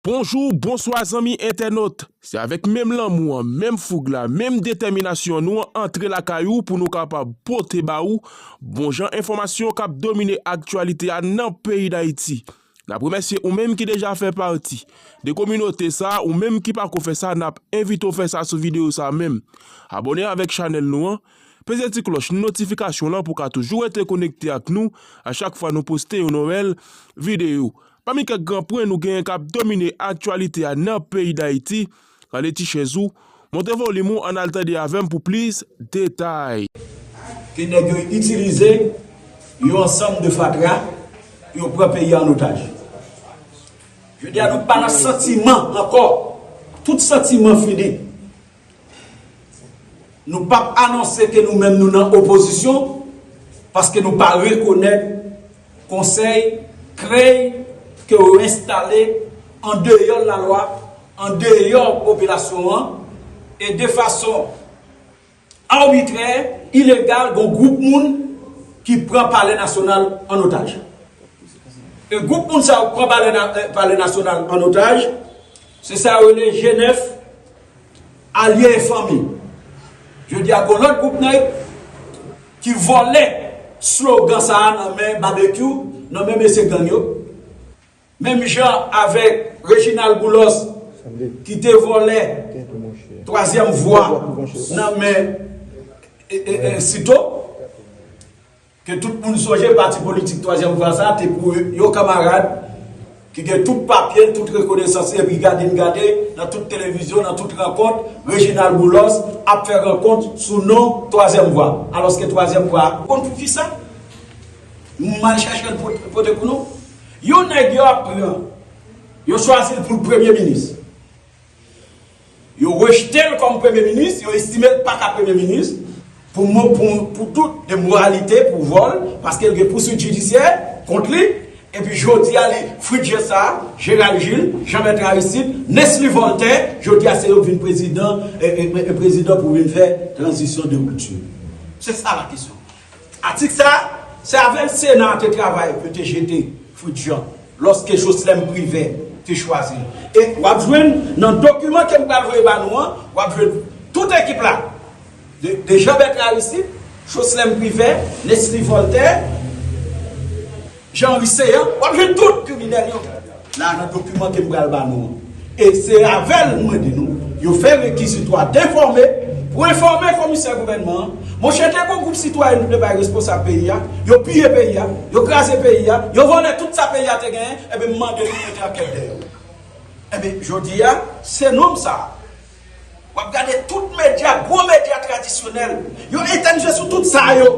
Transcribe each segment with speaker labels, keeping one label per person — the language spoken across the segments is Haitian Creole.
Speaker 1: Bonjou, bonswa zanmi entènot! Se avèk menm lanmou an, menm foug la, menm detèminasyon nou antre lakay ou pou nou kapab pote ba ou bon jan enfòmasyon k ap domine aktyalite a nan peyi Dayiti. N ap remèsye ou menm ki deja fè pati de kominote sa, ou menm ki pako fè sa n ap envite w fè sa sou videyo sa menm. Abòne avèk chanèl nou an, peze ti klòch notifikasyon lan pou w ka toujou rete konekte ak nou a chak fwa nou poste yon nouvèl videyo. Pami kèk gran pwen nou genyen k ap domine aktyalite a nan peyi Dayiti, rale ti chèz ou, monte volim ou ann al tande avè m pou plis detay. Ke
Speaker 2: nèg yo itilize yon ansanm de fatra pou yo pran peyi a an otaj. Jodi a nou pa nan santiman ankò, tout santiman fini. Nou pap anonse ke nou menm nou nan opozisyon paske nou pa rekonèt konsèy, krèy ke yo enstale an deyò lalwa, an deyò popilasyon an e de fason arbitrè, ilegal gon gwoup moun ki pran palè nasyonal an otaj. E gwoup moun sa yo k pran palè nasyonal an otaj, se sa yo rele G9. Alye e fanmi. Jodi a gon lòt gwoup nèg ki vòlè slogan sa a nan men Babekyou, nan men mesye gang yo. Menm jan avèk Reginald Boulos ki te vòlè twazyèm vwa nan men Cito. Ke tout moun sonje pati politik twazyèm vwa sa te pou yon kamarad ki gen tout papye l, tout rekonesans li epi gade n gade nan tout televizyon, nan tout rankont, Reginald Boulos ap fè rankont sou non twazyèm vwa. Alòske twazyèm vwa a. Konn pou kisa? M al chache l pote pou nou. Yon nèg yo ap pran, yo chwazi l pou l premye minis. Yo rejte l kòm premye minis, yo estime l pa ka premye minis pou tout emoralite, pou vòl, paske l gen pouswit jidisyè kont li, epi jodi a li Fritjè Sa, Jeral Jil, Janmèt Aristid, Nesly Vòltè, jodi a se yo k vin prezidan pou vin fè tranzisyon de ripti. Se sa la kesyon. Atik sa a, se avè l Sena a te travay pou yo te jete Fritz Jean lòske Jocelerme Privert te chwazi l. E w ap jwenn nan dokiman ke m pral voye ba nou an, w ap jwenn tout ekip la, de Jean Bertrand Aristide, Jocelerme Privert, Nesly Voltaire, Jean Henry Céant wap jwenn tout kriminèl yo la nan dokiman kem pral ba nou an e se avèl mwen di nou yo fè rekizitwa denfòme pou enfòme komisè gouvènman an monchè gen yon gwoup sitwayen nou te bay responsab peyi a yo piye peyi a yo kraze peyi a yo vòlè tout sa peyi a te genyen enben m mande nou mete ankèt dèyè yo enben jodi a se nonm sa a wap gade tout medya gwo medya tradisyonèl yo etenn je sou tout sa yo.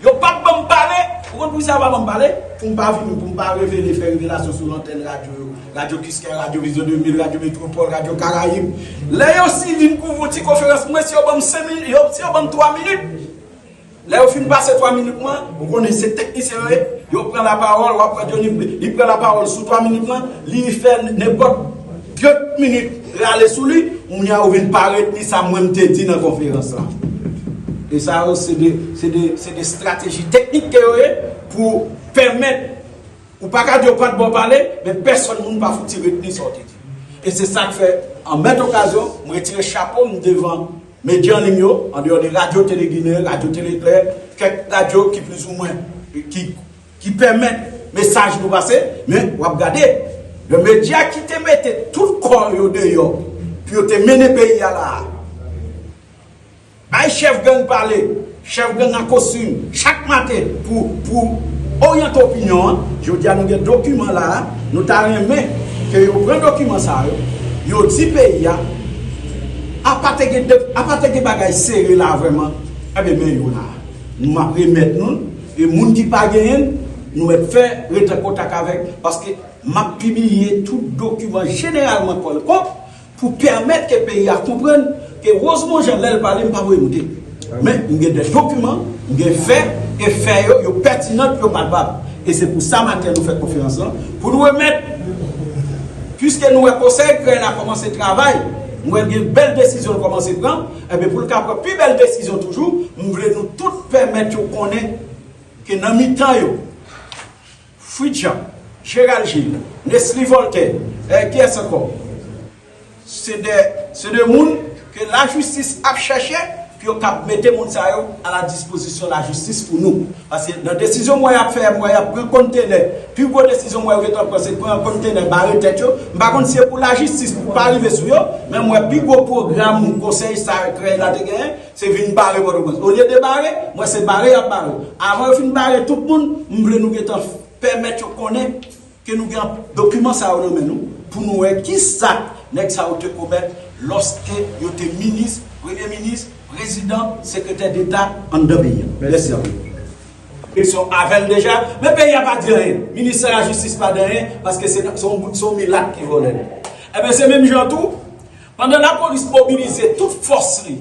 Speaker 2: Yo pap banm pale, ou konn poukisa yo pa banm pale, poum pa vini, poum pa revele, fè revelasyon sou lantèn radyo yo, radyo Kiskeya, radyo Vizyon 2000, radyo Metwopòl, radyo Karayib. Lè yo si vin pou yon ti konferans mwen, si yo banm 5 minit, si yo banm 3 minit, lè yo fin pase 3 minit mwen, ou konnen se teknisyen yo ye, yo pran la pawòl, wap wè Dyonif li pran la pawòl sou 3 minit mwen, li fè nenpòt 30 minit. Rale sou li, kounya ou vin pa retni sa mwen m te di nan konferans la. E sa yo se de, se de, se de strateji teknik ke yo ye pou pèmèt ou pa ka di yo pa t bon pale, men pèsòn moun pa fouti retni sa w te di. E se sa k fè, an mèt okazyon, m retire chapo m devan medya an liy yo, andeyò de Radyo Tele Ginen, Radyo Tele Klè, kèk radyo ki plizoumwen, ki. Ki pèmèt mesaj nou pase, men wap gade yon medya ki te mete tout kò yo deyò pou yo te mennen peyi a la a. Bay chèf gang pale, chèf gang an kostim chak maten pou oryante opinyon an. Jodi a nou gen dokiman la a, nou ta renmen ke yo pran dokiman sa yo, yo di peyi a, apa te gen bagay sere la a vrèman, enben men yo la a. Nou map remèt nou l e moun ki pa genyen l nou mèt fè rete an kontak avèk nou paske map pibliye tout dokiman jeneralman kò l kò pou pèmèt ke peyi a konprann ke Rosemond Jean lè l pale m pa voye moute men m gen dè dokiman m gen fè e fè yo yo pètinan yo palpab e se pou sa maten nou fè konferans lan pou nou remèt piske nou wè konsèy krèy la kòmanse travay m wè l gen bèl desizyon l kòmanse pran. Enben, pou l ka pran pi bèl desizyon toujou, m vle nou tout pèmèt yo konnen ke nan mitan yo, Frid Jan, Jeral Jil, Nesly Vòltè, e kiyès ankò? se de, se de moun ke lajistis ap chèche, ke yo kab mete moun sa yo a la dispozisyon lajistis pou nou. Paske nan desizyon mwa yap fè mwa yap pran kontenè pi gwo desizyon mwa yo gentan pran se pran kontenè bare tèt yo m pa konn si se pou lajistis pou pa rive sou yo men mwen pi gwo pwogram konsèy sa krèy la te genyen se vin bare pòtoprens olye de bare mwen se bare yap bare avan yo fin bare tout moun m vle nou gentan pèmèt yo konnen Ke nou gen dokiman sa yo nan men nou pou nou wè ki zak nèg sa yo te komèt lòske yo te minis, premye minis, prezidan, sekretè deta anndan peyi a. Mèsi anpil. Eleksyon avè l deja, men peyi a pa di anyen. Ministè lajistis pa di anyen paske se yon milat ki vòlè l. Enben se menm jan tou, pandan lapolis mobilize tout fòs li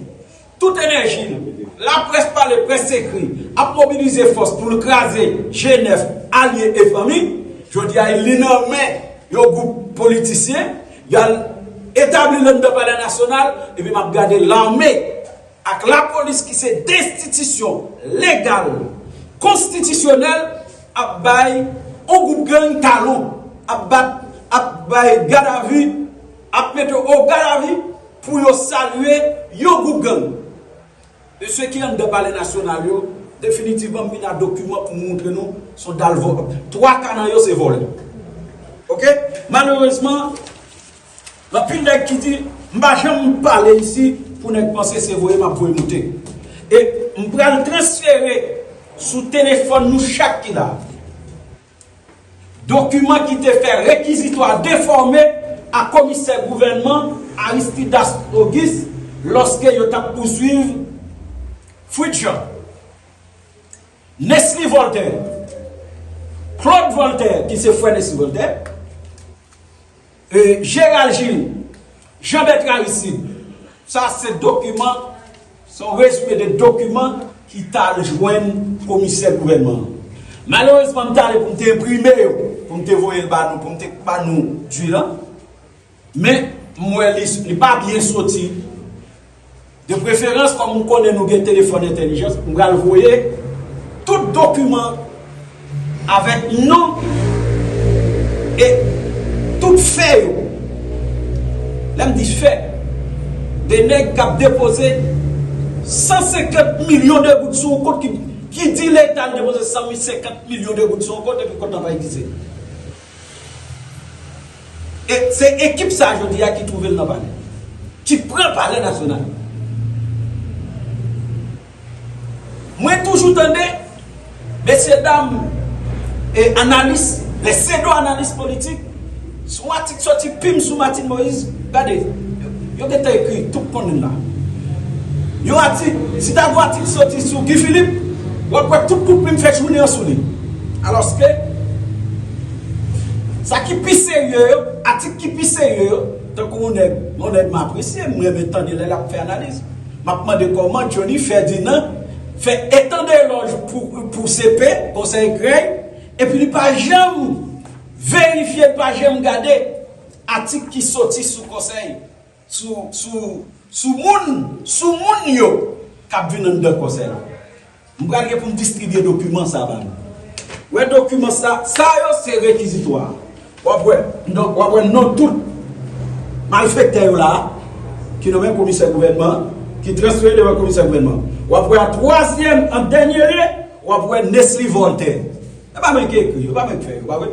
Speaker 2: tout enèji l, laprès pale près ekri, ap mobilize fòs pou l kraze G9, alye e fanmi, jodi a li nan men yon gwoup politisyen, y al etabli l anndan palè nasyonal, epi m ap gade lame ak lapolis ki se 2 enstitisyon legal, konstitisyonèl ap bay yon gwoup gang talon, ap bat, ap bay gadavi. ap mete yo ogalavi pou yo salye yon gwoup gang. Mesye ki anndan palè nasyonal yo, definitivman m vin a dokiman pou m montre nou s on dal vòlò. Twa ka nan yo se vòlò. Ok? Malerezman, gen anpil nèg ki di, m pa janm pale isi pou nèg panse se voye m ap voye moute. E m pral transfere sou telefòn nou chak ki la a. Dokiman ki te fè rekizitwa defòme a komisè gouvènman Aristidas Auguste lòske yo t ap pouswiv Fritz Jean, Nesly Voltaire, Claude Voltaire ki se frè Nesly Voltaire, Gérald Gilles, Jean Bertrand Aristide, sa se dokiman, se yon rezime de dokiman ki t al jwenn komisè gouvènman an. Malerezman m t ale pou m te enprime yo, pou m te voye l ba nou, pou m te ba nou di l an, men m wè li pa byen soti. De preferans kòm m konnen nou gen telefòn entèlijans, m pral voye tout dokiman avèk non e tout fè yo. Lè m di fè, de nèg k ap depoze 150 milyon de goud sou yon kont ki di leta l depoze 150 milyon de goud sou yon kont epi kont lan pa egziste. E se ekip sa jodi a ki twouve l nan palè. Ki pran palè nasyonal. Mwen toujou tande mesye dam e analis, lè sedo analis politik, sou atik soti pim sou Martine Moïse, gade, yo gentan ekri, tout konnen l la. Yon atik, si ta gon atik soti sou Guy Philippe, w ap wè tout kout plim fè jounen an sou li. Alòske, sa ki pi serye yo, atik ki pi serye yo, tankou yon nèg, yon nèg m apresye, m renmen tande lè l ap fè analiz, m ap mande kòman Johnny Ferdinand fè etan de elòj pou CP, Konsèy Krèy, epi li pa janm verifye, li pa janm gade atik ki soti sou Konsèy. Sou, sou, sou moun, sou moun yo k ap vin anndan konsèy la. M pral gen pou m distribye dokiman sa a ba nou. Ou wè dokiman sa a? Sa yo se rekizitwa a. W ap wè non, w ap wè non tout malfèktè yo la a, ki nan men komisè gouvènman an, ki transfere devan komisè gouvènman an. W ap wè an twazyèm, an dènye lye, w ap wè Nesly Voltaire. E pa mwen ki ekri yo, e pa mwen ki fè yo, pa vre?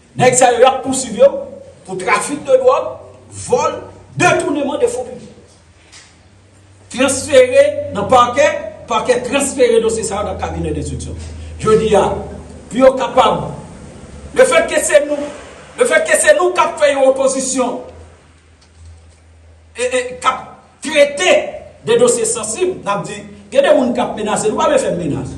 Speaker 2: Nèg sa yo yap pousuiv yo pou trafik de dwòg, vòl, detouneman de fon piblik. Transfere nan pakè, pakè transfere dosye sa yo nan kabinè denstriksyon. Jodi a, pou yo kapab, le fèt ke se nou, le fèt ke se nou kap fè yon opozisyon, kap trete de dosye sansib, nap di, gen de moun kap menase nou, pa vle fè m menas.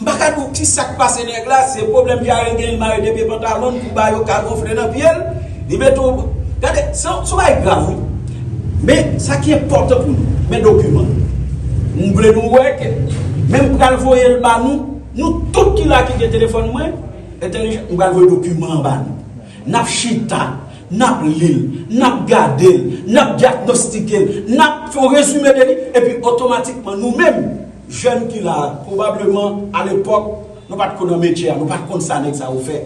Speaker 2: M pa ka di w ki sa k pase nèg la, se pwoblèm dyare genyen, mare de pye pantalon l pou ba yo ka gonfle nan pye l, li mete w, gade, se yon bagay grav wi. Men, sa ki enpòtan pou nou, men dokiman l. M vle nou wè ke, men m pral voye l ba nou, nou tout ki la ki gen telefòn mwen, entèlijan, m pral voye dokiman an ba nou. N ap chita, n ap li l, n ap gade l, n ap dyagnostike l, n ap fè yon rezime de li, epi otomatikman nou menm, Jèn ki la a, pwobableman, alepòk, nou pa t ko nan metye a, nou pa t konn sa nèg sa yo fè.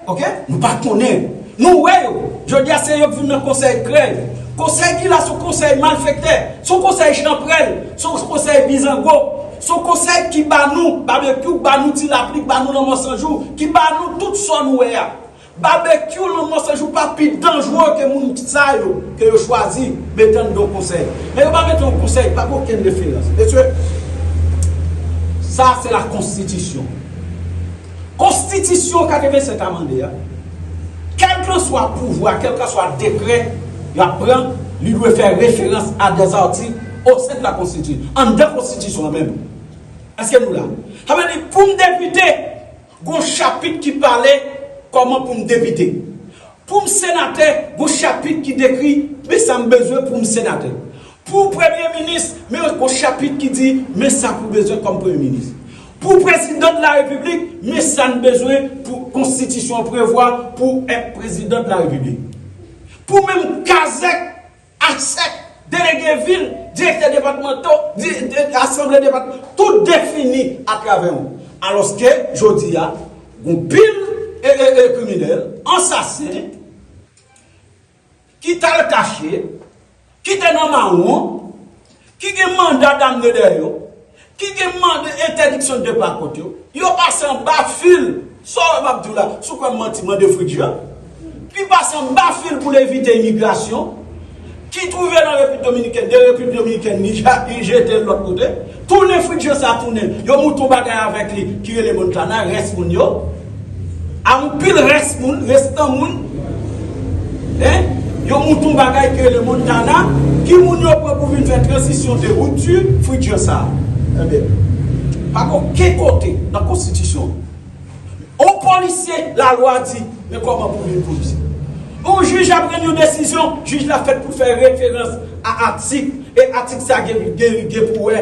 Speaker 2: Ok? Nou pa konnen. Nou wè yo. Jodi a, se yo k vin nan konsèy krèy. Konsèy ki la a, s on konsèy malfèktè. S on konsèy chanprèl. S on konsèy bizango. S on konsèy ki ba nou babekyou, k ba nou ti lapli, k ba nou lanmò sanjou, ki ba nou tout sa nou wè a. Babekyou lan mò sanjou pa pi danjre ke moun sa yo ke yo chwazi men tann don konsèy men yo pa mete yon konsèy pa gen okenn referans mesye sa se la konstitisyon konstitisyon 87 a mande a kèlkanswa pouvwa kèlkanswa dekrè yap pran li dwe fè referans a dè zati o sen de la konstiti anndan konstitisyon an menm èske nou la sa vle di poum depite Gon chapit ki pale kòman pou m depite. Pou m senatè, gon chapit ki dekri men sa m bezwen pou m senatè. Pou w premye minis, men yon gon chapit ki di men sa pou w bezwen kòm premye minis. Pou w prezidan de la repiblik, men sa n bezwen pou konstitisyon an prevwa pou w èt prezidan de la repiblik. Pou menm kazèk. Asèk, Delege vil, Direktè depatmanto, Asanble depatman, tout defini atravè ou. Alòske, jodi a, gon pil kriminèl, ansasen, ki t al kache, ki te nan mawon, ki gen manda damne dèyè yo, ki gen mande entèdiksyon de pa kont yo, yo pase anba fil, sa w wè m ap di w la, si w kwè m manti mande Fridja, ki pase anba fil pou l evite imigrasyon, ki twouve nan Repiblik Dominikèn, de Repiblik Dominikèn li jete l lòt kote, tounen Fridja sa tounen yon mouton bagay avèk li ki rele Montana, rès moun yo. Anpil rès moun, restan moun, en, yon mouton bagay ki rele Montana, ki moun yo pran pou vin fè tranzisyon de rupture future sa a? Enben, pa gen oken kote nan konstitisyon an, yon polisye lalwa di, men kòman pou vin polisye. Yon jij ap rann yon desizyon, jij la fèt pou fè referans a atik, e atik sa gen pou wè.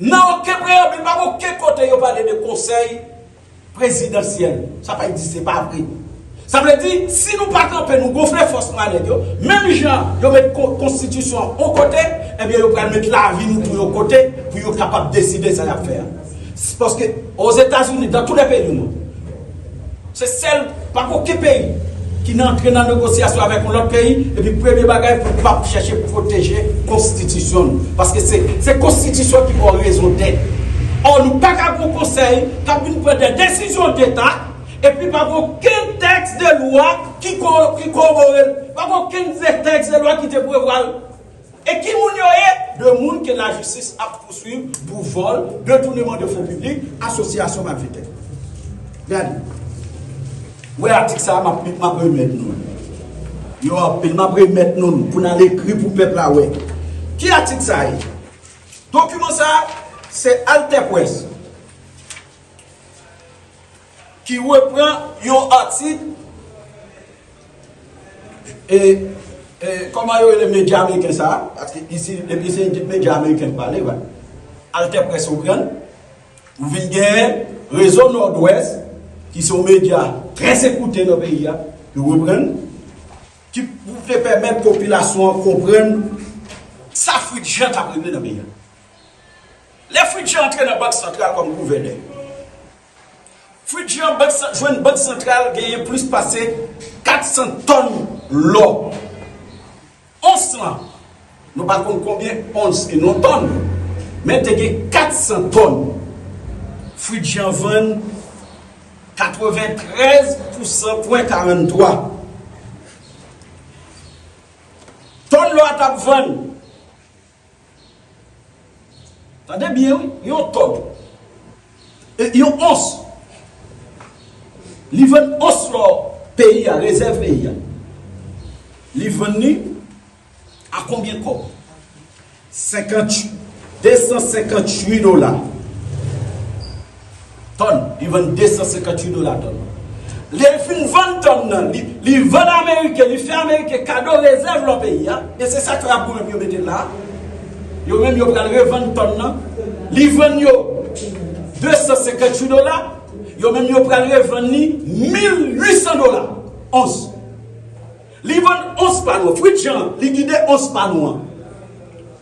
Speaker 2: Nan oken preyabil, pa gen oken kote yo pale de konsèy prezidansyèl. Sa pa egziste, se pa vre. Sa vle di, si nou pa kanpe, nou gonfle fòs nou a nèg yo, menm jan yo met konstitisyon an yon kote, ebyen yo pral met lavi nou tou yon kote pou yo kapab deside sa y ap fè a. Paske, Ozetazini, dan tou lè peyi nou, Se sèl, pa gen oken peyi ki nan antre nan negosyasyon avèk yon lòt peyi epi premye bagay pou pa p chèche pwoteje konstitisyon nou. Paske se se konstitisyon ki fè w rezon dèt. Ò nou pa ka gen yon konsèy k ap vin pran dè desizyon deta epi pa gen oken tèks de lwa ki ko ki kowobore l, pa gen oken ze tèks de lwa ki te prevwa l. E ki moun yo ye? 2 moun ke lajistis ap pouswiv pou vòl, detouneman de fon piblik, asosyasyon malfetè. Gade. Ou wè atik sa a map li, map remèt nou l. Yo anpil, map remèt nou l pou n al ekri pou pèp la wè. Ki atik sa ye? Dokiman sa a se AlterPresse. Ki repran yon atik e e kòman yo rele medya ameriken sa a, paske isi depi se ekip medya ameriken k pale va, AlterPresse ou prann, ou vin gen Rezo Nòdwès ki se yon medya trè ekoute nan peyi a, yo reprann, ki pou te pèmèt popilasyon an konprann sa Fritz Jean t ap regle nan peyi a. Lè Fritz Jean antre nan Bank Santral kòm gouvènè. Fridge yon bank jwenn bank santral genyen plis pase 400 tòn lò. Ons lan, nou pa konn konbyen ons e non tòn, men te gen 400 tòn. Fridge an vann 93 pousan pwen 43. Tòn lò a t ap vann. Tande byen wi, yon tòg. E yon ons. Li vann ons lò peyi a, rezèv peyi a. Li vann li a konbyen kòb? 58, 258 dola. Tòn, li vann 258 dola tòn lan. Lè l fin vann tòn lan, li vann ameriken, li fè ameriken kado rezèv lò peyi a, e se sa k fè y ap goumen pou yo mete l la a. Yo menm yo pral revann tòn lan. Li vann yo 258 dola, yo menm yo pral revann li 1800 dola ons. Li vann ons pa nou an, fwit jan an, li gide ons pa nou an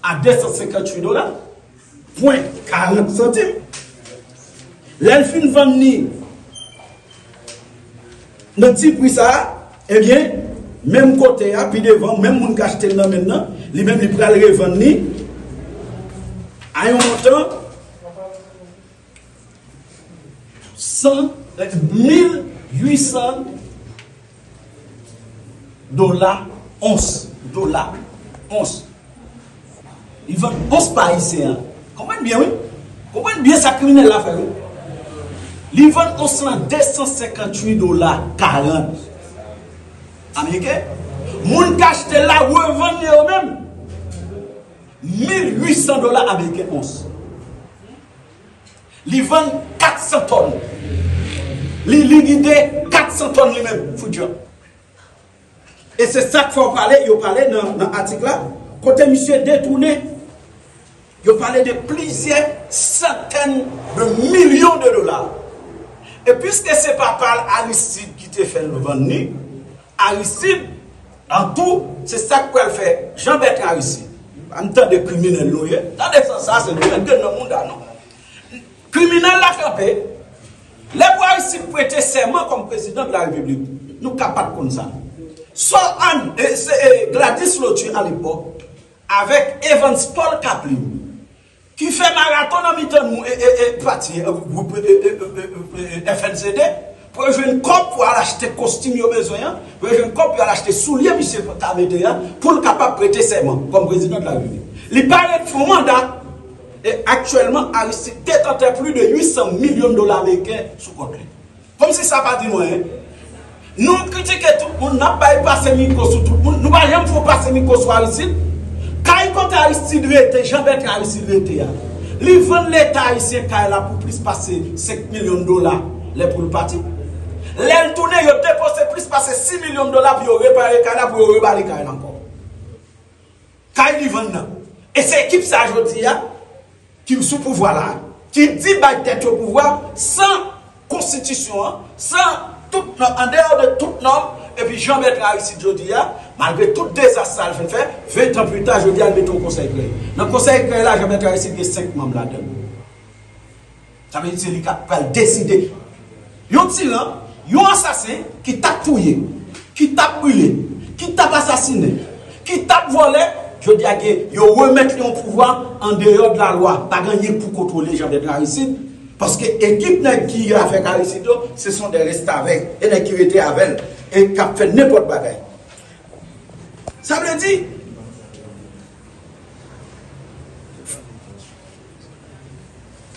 Speaker 2: a 258 dola. Pwen 40 santim. Lè l fin vann li nan ti pri sa a, ebyen menm kote a, pi devan, menm moun k achte l nan men l lan, li menm li pral revann li a yon montan. 1800 dola ons. Dola ons. Li vann ons pa ayisyen an. Konprann byen wi. Konprann byen sa kriminèl la fè wi. Li vann ons lan 258 dola 40. Ameriken. Moun k achte l la revann li yo menm. 1800 dola ameriken ons. Li vann 400 tòn. Li likide 400 tòn li menm, Fout Jan. E se sa k fè w pale, yo pale nan atik la, kote misye detounen, yo pale de plizyè santèn de milyon de dola. E piske se papa l, Aristide, ki te fè l vann li, Aristide an tou se sak pral fè Jean Bertrand Aristide banm tande kriminèl nou ye tande san sa se nou menm gen nan mouda nou kriminèl la kanpe lè pou Aristide prete sèman kòm prezidan de la repiblik nou ka pat konn sa sò Ann se Gladys Lotu alepòk avèk Evans Paul Caplin Ki fè maraton nan mitan nou e e e pati e gwoup e e e e FNCD pou yo jwenn kòb pou al achte kostim yo bezwen an, pou yo jwenn kòb pou yo al achte soulye misye ta mete an pou l kapab prete sèman kòm prezidan de la Repiblik. Li parèt fon manda e aktyèlman Aristide detantè pli de 800 milyon dola ameriken sou kont li. Komsi sa pa di nou anyen. Nou kritike tout moun, nap bay pase mikwo sou tout moun, nou pa janm fon pase mikwo sou Aristid. Kay kote Aristid rete, Jean Bertrand Aristid rete a, li vann leta ayisyen kay la pou plis pase 5 milyon dola lè poul pati. Lèl tounen yo depoze plis pase 6 milyon dola pou yo repare kay la pou yo rebali kay la ankò. Kay li vann nan. E se ekip sa jodi a ki sou pouvwa la a ki di bay tèt yo pouvwa san konstitisyon an, san tout nòm, an deyò de tout nòm. Epi Jean Bertrand Aristide jodi a, malgre tout dezas sa l fin fè, ventan pli ta, jodi a l mete yon konsèy kreye. Nan konsèy kreye la Jean Bertrand Aristide gen 5 manm ladan l. Sa vle di se li kap pral deside. Yon tiran, yon asasen ki tap touye, ki tap brile, ki tap asasinen, ki tap vòlè, jodi a gen yo remèt li yon pouvwa an deyò de la lwa. Pa gen anyen pou kontwole Jean Bède Aristide paske ekip nèg ki avèk Aristide yo se son dè restavèk, e nèg ki rete avèl e kap fè nenpòt bagay. Sa vle di.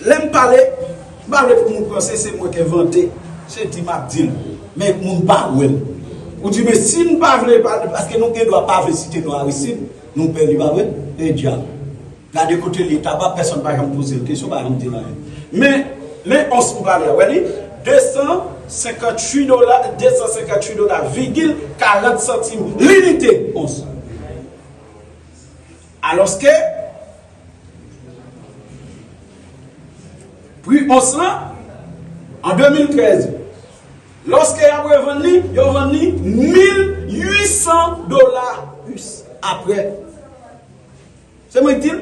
Speaker 2: Lè m pale, m pa vle pou moun panse se mwen k envante, se di m ap di l, men moun pa wè l. Ou di men si n pa vle pale, paske nou gen dwa pa vle site non Aristid, nou pè li pa vre? E djab! Gade kote li ta ba, pèsonn pa janm poze l kesyon, pa janm di l anyen. Men, men ons m pale a, wè li? 258 dola, 258 dola vigil 40 santim linite ons. Alòske, pri ons lan, an 2013, lòske y ap revann li, yo vann li 1.800 dola us, apre. Se mwen ki di l?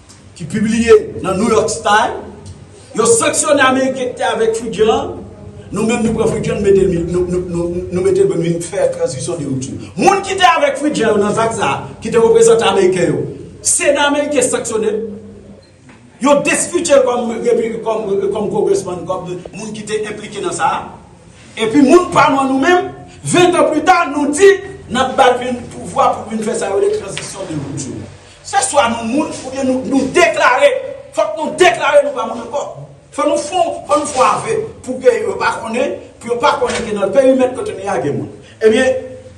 Speaker 2: ki pibliye nan New York Style, yo sanksyone Ameriken ki te avèk Fujian an, nou menm nou pran Fujian nou mete nou mete l pou vin fè tranzisyon de rupture. Moun ki te avèk Fujian yo nan zak sa a, ki te reprezante Ameriken yo, Sena Ameriken sanksyone l, yo destitye l kòm kongresman, kòm moun ki te enplike nan sa a, epi moun pa nou an nou menm, ventan pli ta, nou di n ap ba l vin pouvwa pou l vin fè sa yo rele tranzisyon de rupture. Se swa nou moun oubyen nou nou deklare fòk nou deklare nou pa moun ankò fò nou fon fò nou fon ave pou ke yo pa konnen pou yo pa konnen ke nan perimèt kote nou ye a gen moun ebyen